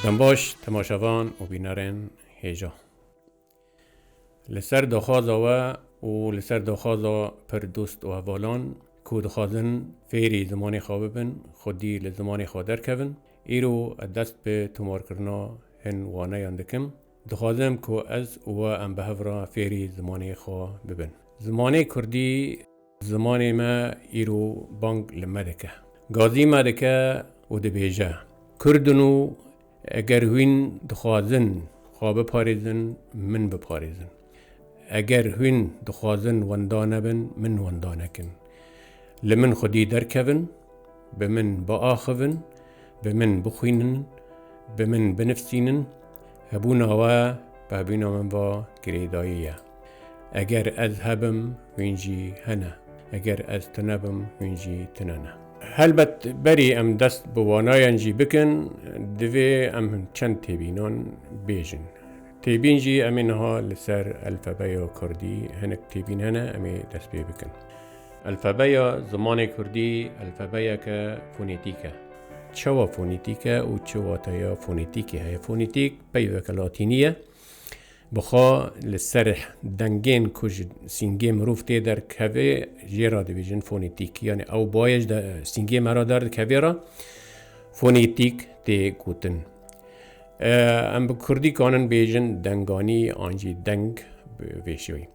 Dembaş temaşevan û bînerên hêja. Li ser daxwaza we û li ser daxwaza pir dost û hevalan ku dixwazin fêrî zimanê xwe bibin, xwedî li zimanê xwe derkevin, îro ez dest bi tomarkirina hin waneyan dikim. Dixwazim ku ez û we em bi hev re fêrî zimanê xwe bibin. Zimanê kurdî zimanê me îro bang li me dike, gazî me dike û dibêje kurd in û eger hûn dixwazin xwe biparêzin min biparêzin. Eger hûn dixwazin wenda nebin, min wenda nekin. Li min xwedî derkevin, bi min biaxivin, bi min bixwînin, bi min binivîsînin, hebûna we pehbûna min va girêdayî ye. Eger ez hebim, hûn jî hene. Eger ez tunebim, hûn jî tune ne. Helbet berî em dest bi wanayan jî bikin, divê em çend têbînan bêjin. Têbîn jî em ê niha li ser elfebeya kurdî hinek têbîn hene em ê dest pê bikin. Elfebeya zimanê kurdî elfebeyeke fonetîk e. Çawa fonetîk e û çi wateya fonetîkê heye? Fonetîk peyveke latînî ye. Bi xwe li ser dengên ku ji sîngê mirov tê derkevê jê re dibêjin fonetîk. Yanî ew bayê ji sîngê me re derdikevê re fonetîk tê gotin. Em bi kurdî kanin bêjin denganî an jî deng bi vê şêwê.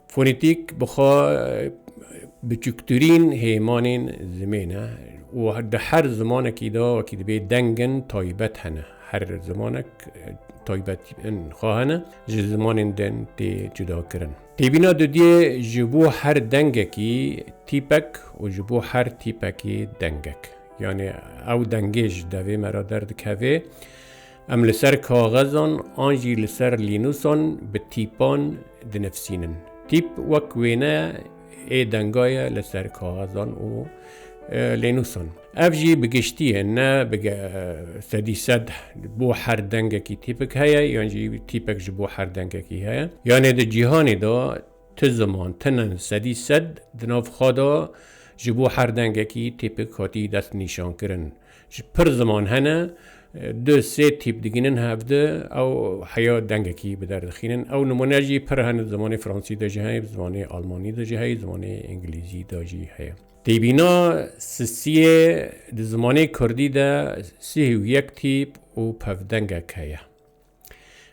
Fonetîk bi xwe biçûktirîn hêmanên zimên e û di her zimanekî de wekî dibê dengin taybet hene. Her zimanek taybetiyên xwe hene ji zimanên din tê cudakirin. Têbîna dudiyê ji bo her dengekî tîpek û ji bo her tîpekî dengek. Yanî ew dengê ji devê me re derdikevê. Em li ser kaxezan an jî li ser lînûsan bi tîpan dinivîsînin. Tîp wek wêne ê denga ye li ser kaxezan û lênûsan. Ev jî bi giştiyê ne bi sedî sed bo her dengekî tîpik heye yan jî tîpek ji bo her dengekî heye. Yanê di cîhanê de Ti ziman, tinin, sedî sed di nav xwe de ji bo her dengekî tîpik hatî destnîşankirin. Ji pir ziman hene, du sê tîp digihînin hev de ew heya dengekî bi der dixînin. Ew nimûne jî pir hene, di zimanê fransî de jî heye, bi zimanê almanî de jî heye, di zimanê îngilîzî de jî heye. Têbîna sisiyê, di zimanê kurdî de sih û yek tîp û pevdengek heye.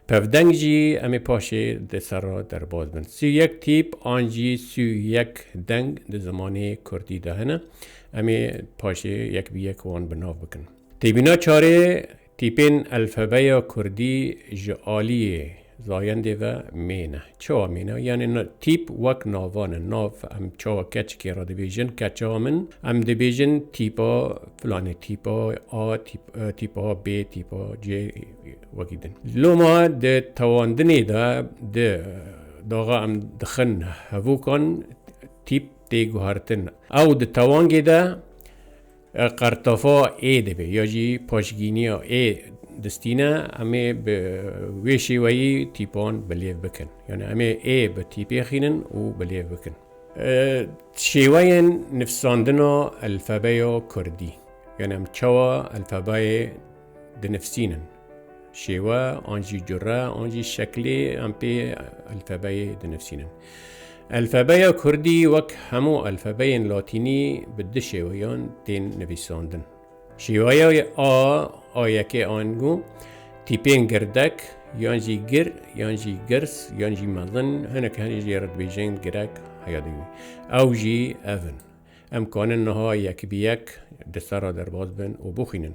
Pevdeng jî em ê paşê di ser re derbas bin. Sî û yek tîp an jî sî û yek deng di zimanê kurdî de hene. Em ê paşê yek bi yek wan bi nav bikin. Têbîna çarê tîpên elfebeya kurdî ji aliyê zayendê ve mêne. Çawa mêne? Yanî tîp wek navan in. Nav em çawa keçikê re dibêjin keça min, em dibêjin tîpa filanê, tîpa A, tîpa B, tîpa C. Wekî din. Loma di tewandinê de di daxa em dixin hevûkan tîp tê guhertin. Ew di tewangê de qertafa ê dibe ya jî paşgîniya ê distîne em ê bi wê şêweyî tîpan bilêv bikin. Yani em ê ê bi tîpê xînin û bilêv bikin. Şêweyên nivsandina elfebeya Kurdî. Yani em çawa elfebeyê dinifsînin. Şêwe an jî cure an jî şeklê em pê elfebeyê dinifsînin. Elfebeya Kurdî wek hemû elfebeyên Latînî bi du şêweyan tên nivîsandin. Şêweya A a yekê ango tîpên girdek yan jî gir yan jî girs yan jî mezin hinek henê jê re dibêjin girek heya dîwî. Ew jî ev in. Em kanin niha yek bi yek di ser re derbas bin û bixwînin.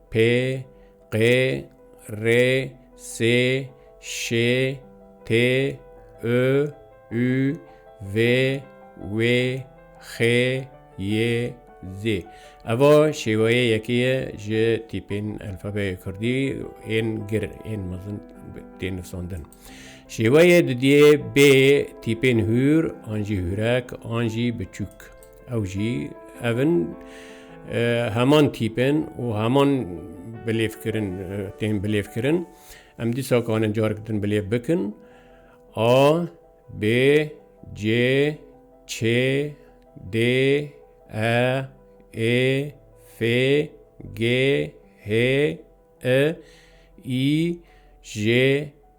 P, Q, R, S, Ş, T, I, Ü, V, W, X, Y, Z. Evo şêweyê yekê ye ji tîpên elfabeyê kurdî ên gir ên mezin tê nivsandin. Şêweyê didiyê bê tîpên hûr an jî hûrek an jî biçûk. Ew jî ev in heman tîpên û heman bilêvkirin tên bilêvkirin. Em dîsa kanin carek din bilêv bikin A, B, C, Ç, D, E, Ê, F, G, H, I, J,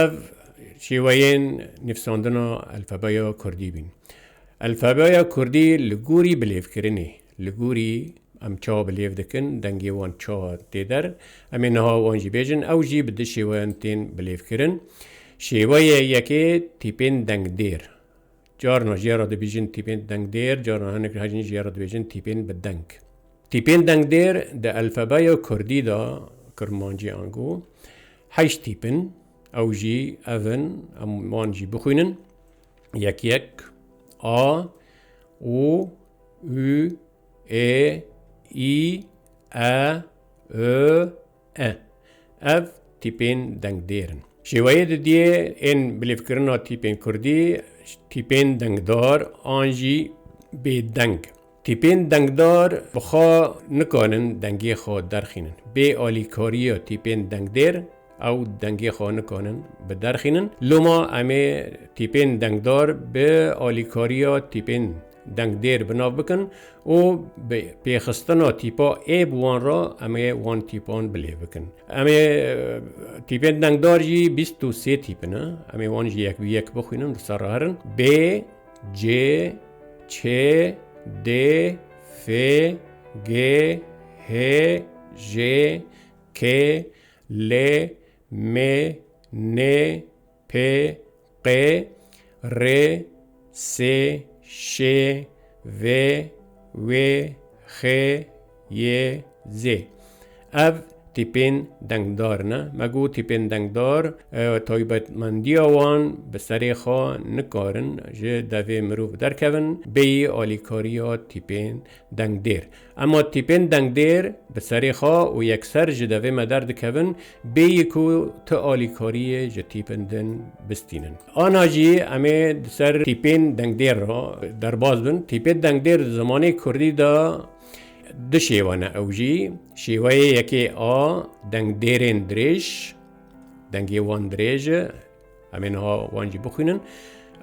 Ev şêweyên nivsandina elfebeya kurdî bîn. Elfebeya kurdî li gorî bilêvkirinê, li gorî em çawa bilêv dikin, dengê wan çawa tê der, em ê niha wan jî bêjin, ew jî bi du şêweyan tên bilêvkirin. Şêweyê yekê tîpên dengdêr. Carna ji ye re dibêjin tîpên dengdêr, carna hinek ji hecîn ji ye re dibêjin tîpên bi deng. Tîpên dengdêr di elfebeya kurdî de, kurmancî ango, heşt tîp in. Ew jî ev in, em wan jî bixwînin, yek yek, a, o, û, ê, î, e, ö, E. Ev tîpên dengdêr in. Şêweyê didiyê ên bilêvkirina tîpên kurdî tîpên dengdar an jî bêdeng. Tîpên dengdar bi xwe nikarin dengê xwe derxînin. Bê alîkariya tîpên dengdêr ew dengê xwe nikarin biderxînin. Loma em ê tîpên dengdar bi alîkariya tîpên dengdêr bi nav bikin û bi pêxistina tîpa ê bi wan re em ê wan tîpan bi lêv bikin. Em ê tîpên dengdar jî bîst û sê tîp ne. Em ê wan jî yek bi yek bixwînin di ser re herin. B, C, Ç, D, F, G, H, J, K, L, M, N, P, Q, R, S, Ş, V, W, X, Y, Z. Ev tîpên dengdar ne. Me got tîpên dengdar taybetmendiya wan bi serê xwe nikarin ji devê mirov derkevin bêyî alîkariya tîpên dengdêr. Ema tîpên dengdêr bi serê xwe û yekser ji devê me derdikevin bêyî ku tu alîkariyê ji tîpin din bistînin. Ana jî em ê di ser tîpên dengdêr re derbas bin. Tîpê dengdêr di zimanê kurdî de du şêwe ne ew jî şêweyê yekê a dengdêrên dirêj, dengê wan dirêj e, Em ê niha wan jî bixwînin.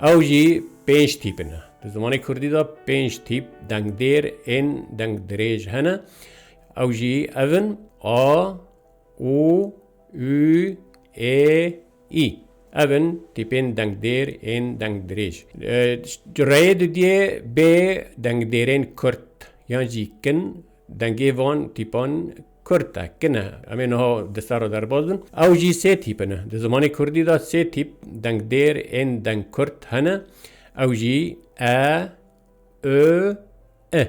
Ew jî pênc tîp ne. Di zimanê Kurdî de pênc tîp dengdêr ên deng dirêj hene. Ew jî ev in a, û, û, ê, î. Ev in tîpên dengdêr ên deng dirêj. Reyê didiyê bê dengdêrên kurt yan jî kin Dengê van tîpan kurt e, kin e. Em ê niha di ser re derbas bin. Ew jî sê tîp in. Di zimanê kurdî de sê tîp dengdêr ên dengkurt hene. Ew jî e, û, i.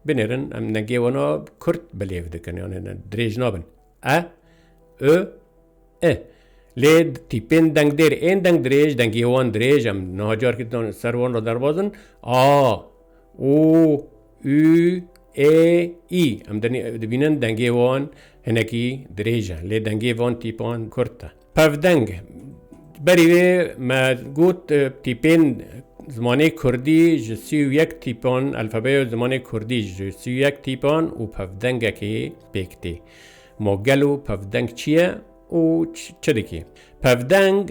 Binêrin em dengê wana kurt bi lêv dikin. Yanê dirêj nabin. e, ü, i. Lê tîpên dengdêr ên dengdirêj, dengiyê wan dirêj em niha carkî ser wan re derbas in, a, û, ü, ê, î. Em dibînin dengê wan hinekî dirêj e lê dengê van tîpan kurt e. Pevdeng, berî vê me got tîpên zimanê Kurdî ji sî û yek tîpan, alfabeya zimanê Kurdî ji sî û yek tîpan û pevdengekê pêk tê. Ma gelo pevdeng çi ye û çi dike? Pevdeng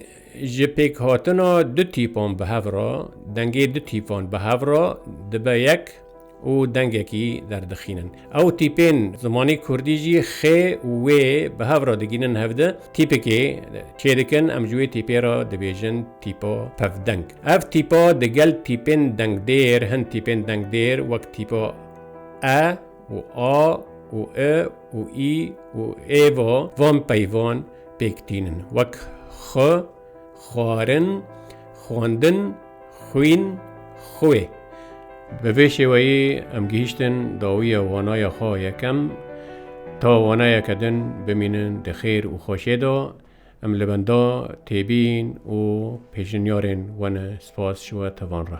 ji pêkhatina du tîpan bi hev re, dengê du tîpan bi hev re dibe yek. û dengekî derdixînin. Ew tîpên zimanê kurdî jî xê û wê bi hev re digînin hev di tîpikê çêdikin em ji wê tîpê re dibêjin tîpa pevdeng. Ev tîpa di gel tîpên dengdêr hin tîpên dengdêr wek tîpa e û a û i û î û ê ve van peyvan pêk tînin wek xi, Xwarin, xwendin, xwîn, xwê. Bi vê şêweyê em gihîştin dawiya wanaya xwe yekem. Ta wanayeke din bimînin di xêr û xweşê de, em li benda têbîn û pêşniyarên we ne. Spas ji we tevan re.